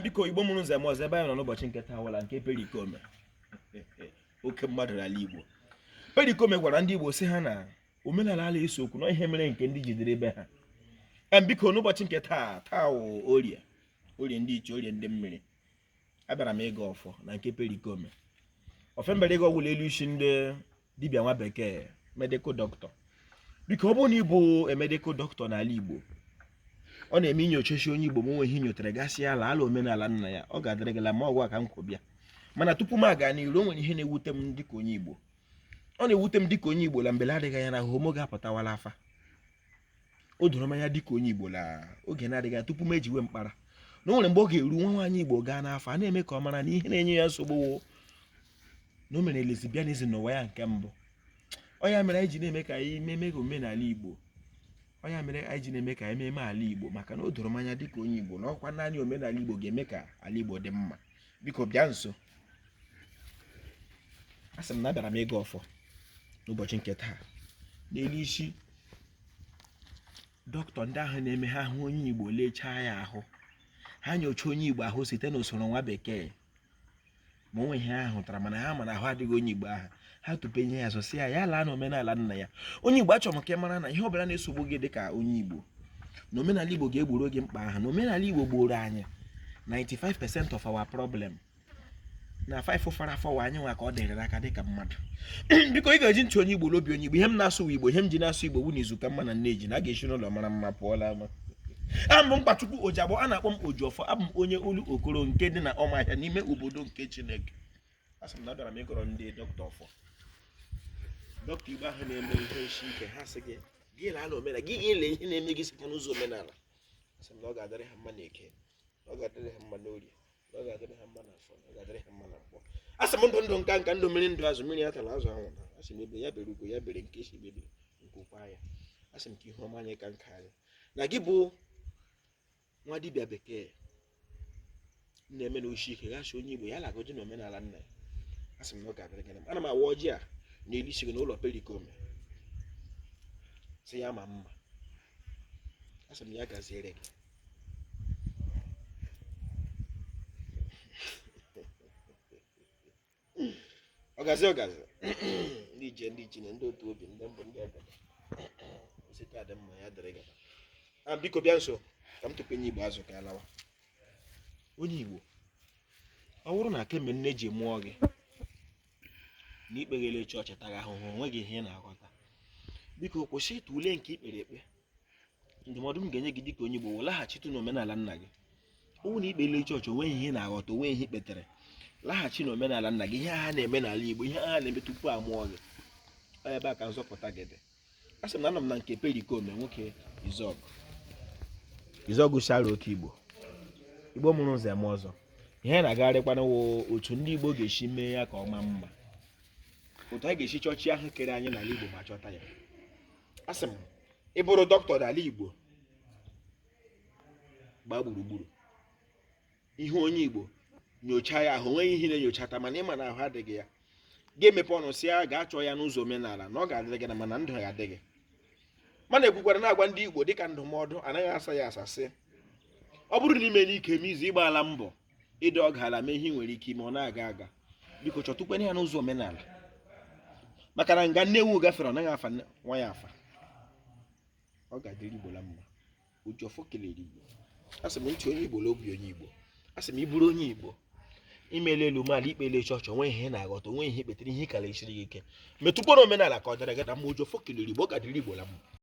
biko igbo mụrụ nze mụọ ọzọ ebe anyị nọ n'ụbọchị nke taa wụ ala nke perikome oke mmadụ n'ala igbo perikome gwara ndị igbo sị ha na omenala ala eso okwu na ihe mere nke ndị jidere ebe ha biko n'ụbọchị nke taa taa orie orie ndị ichie orie ndị mmiri abịara m ịgọ ọfọ na nke perikome ọfọ m bịara ịgọ wụ la elu isi ndị dibịa nwa bekee medical doctor biko ọ bụrụ na ị bụ medical doctor n'ala Igbo ọ na-eme i nyochachaa onye Igbo ma o nwee ihe i nyotara gị asị ya laa la omenala nna ya ọ ga-adịrị gị la mma ọ wụ ya ka m kwọ bịa mana tupu m aga n'iru o nwere ihe na-ewute m dịka onye Igbo ọ na-ewute m dịka onye Igbo la mgbe adịghị anya na homo ga-apụtawa la afa o doro m anya dịka onye Igbo la oge na-adịghị anya tupu m ejiwe mkpara na o nwere mgbe ọ ga-eru nwa nwaanyị Igbo gaa n'afa a na-eme ka ọ mara na ihe na-enye ya nsogbu na o mere lesbianism n'ụwa ya nke mbụ ọ ya mere anyị ji na-eme ka anyị meme ka omenala igbo ọ ya mere anyị ji na-eme ka anyị meme ala igbo maka na o doro m anya dịka onye igbo na ọ kwa naanị omenala igbo ga-eme ka ala igbo dị mma biko bịa nso asị m na abịara m ịgọ ọfọ n'ụbọchị nke taa n'elu isi dọkịta ndị ahụ na-eme ha hụ onye igbo lechaa ya ahụ ha nyochaa onye igbo ahụ site n'usoro nwa bekee ma o nwee ihe ha hụtara mana ha ma na ahụ adịghị onye igbo aha ha tupe ihe ya sọsị ya ya laa na omenala nna ya onye igbo achọrọ m ka ị mara na ihe ọbụla na-esogbu gị dịka onye igbo na omenala igbo ga-egboro gị mkpa aha na omenala igbo gboro anyị 95% of our problem na faịfụ fọrọ afọ wụ anyị nwa ka ọ dịrị n'aka dịka mmadụ biko ị ga-eji ntị onye igbo n'obi onye igbo ihe m na-asụ igbo ihe m ji na-asụ igbo wụ na izu ka mma na nne ji na a ga-esi n'ụlọ mara mma pụọ la ama aha m bụ Mkpachukwu Ojiagbọ a na-akpọ m Ojiọfọ abụ m onye Olokoro nke dị na Ụmụahịa n'ime obodo nke Chineke asị m na abịara m ịgọrọ ndị dọkịta ọfọ dọkịta Igbo ahụ na-eme ihe sie ike ha sị gị gị laa na omenala gị lee ihe na-eme gị site n'ụzọ omenala asị m na ọ ga-adịrị ha mma na eke na ọ ga-adịrị ha mma n'orie ọ ga-adịrị ha mma na afọ ọ ga-adịrị ha mma na nkwọ asị m ndụ ndụ nka nka ndụ mmiri ndụ azụ mmiri atala azụ anwụna asị m egbe ya bere ugo ya bere nke sị ibe ya ebere nku kwaa ya asị m ka ihe ọma anyị ka nka anyị na gị bụ nwa dibịa bekee na-eme na o shie ike gị asị onye igbo ya lagoji na omenala nna ya asị m na ọ ga-adịrị gị na mma ana m awa ọjị a n'elu isi gị n'ụlọ perikome sị ya maa mma asị m ya gaziere gị ọgazi ọgazi ndị ije ndị ichie na ndị otu obi ndị mbụ ndị ọbịa isi ka dị mma ya dịrị gị a biko bịa nso ka m tupu onye igbo azụ ka alawa onye igbo ọ bụrụ na kemgbe nne gị mụọ gị na ikpeghele chọọchị taga ahụhụ onweghị ihe ị na-aghọta biko kwụsịtụle nke ikpere ekpe ndụmọdụ m ga-enye gị dịka onye Igbo laghachitụ n'omenala nna gị ọ wụ na ikpele chọọchị onweghị ihe na-aghọta onwe ihe ikpetere laghachi n'omenala nna gị ihe ha na-eme n'ala Igbo ihe ha na-eme tupu a mụọ gị ebe a ka nzọpụta gị dị a sị m na anọ m na nke perikoma nwoke izuogu izuogu shara oke igbo igbo mụrụ nze mụọ ọzọ ihe na-agagharịkwanụ wụ otu ndị igbo ga-esi mee ya ka ọ maa mma otu anyị ga-esi chọọ chi ahụ kere anyị n'ala igbo ma chọta ya a sị m ị bụrụ dọkịta n'ala igbo gbaa gburugburu ị hụ onye igbo nyochaa ya ahụ onweghị ihe na-enyochata mana ị ma na ahụ adịghị ya gị emepe ọnụ sị ya gaa chọọ ya n'ụzọ omenala na ọ ga-adịrị gị na mma na ndụ ya adịghị mana ekwukwara na-agwa ndị igbo dịka ndụmọdụ anaghị asa ya asa sị ọ bụrụ na ime n'ike m izu ịgbaala mbọ ịdị ọga ala mee ihe nwere ike ime ọ na-aga aga biko chọtụkwene ya n'ụzọ omenala maka na nga nne ewu gafere ọ naghị afa nwa ya afa ọ ga-adịrị igbo la mma Ojiọfọ kelere Igbo asị m ntị onye Igbo na obi onye Igbo asị m ị bụrụ onye Igbo imele elu mee ala ikpele chọọchị onwe ihe na-aghọta onwe ihe ikpetere ihe ka la-esiri gị ike metụkwanụ omenala ka ọ dịrị gị na mma Ojiọfọ kelere Igbo ọ ga-adịrị Igbo la mma